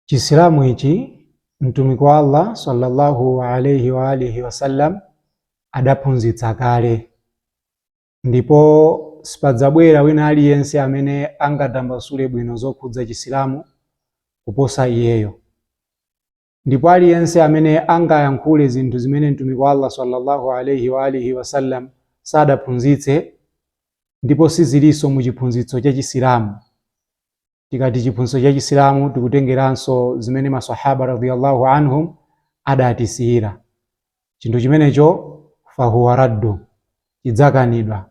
chisilamu ichi mtumiki wa allah sallallahu alaihi wa alihi wasallam adaphunzitsa kale ndipo sipadzabwera wina aliyense amene angatambasule bwino zokhudza chisilamu kuposa iyeyo Ndipo aliyense amene angayankhule zinthu zimene Mtumiki wa Allah swalla-Allahu alaih wa alihi wasallam sadaphunzitse ndipo sizilinso mu chiphunzitso cha Chisilamu, tikati chiphunzitso cha Chisilamu tikutengeranso zimene ma Swahaba radiyallahu anhum adatisiyira, chinthu chimenecho fahuwa raddu, chidzakanidwa.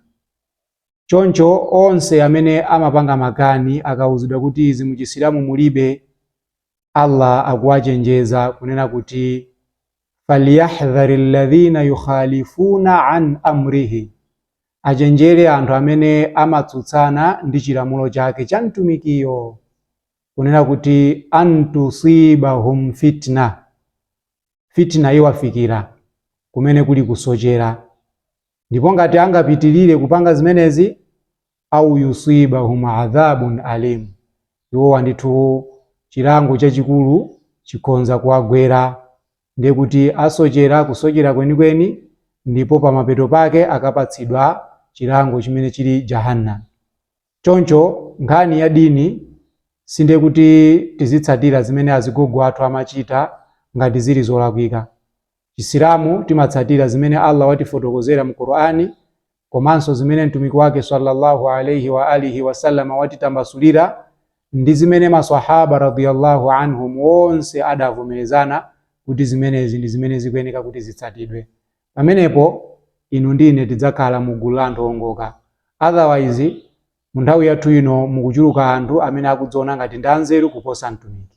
Choncho onse amene amapanga makani akauzidwa kuti izi mu Chisilamu mulibe, Allah akuwachenjeza kunena kuti falyahdhari alladhina yukhalifuna an amrihi, achenjere anthu amene amatsutsana ndi chilamulo chake cha mtumikiyo, kunena kuti antusibahum fitna, fitna iwafikira kumene kuli kusochera. Ndipo ngati angapitirire kupanga zimenezi, au yusibahum adhabun alim, iwowa ndithu chilango chachikulu chikhonza kuwagwera. Ndiye kuti asochera kusochera kwenikweni ndipo pamapeto pake akapatsidwa chilango chimene chili Jahannam. Choncho nkhani ya dini sindiye kuti tizitsatira zimene azigogo athu amachita ngati zili zolakwika. Chisilamu timatsatira zimene Allah watifotokozera mu Qur'an komanso zimene Mtumiki wake sallallahu alaihi wa alihi wasallam watitambasulira ndi zimene maswahaba radhiyallahu anhum onse adavomerezana kuti zimenezi ndi zimene zikuyeneka kuti zitsatidwe. Pamenepo inu ndi ine tidzakhala mu gulu la anthu owongoka. Otherwise, mu nthawi yathu ino mukuchuluka anthu amene akudziona ngati ndi anzeru kuposa Mtumiki.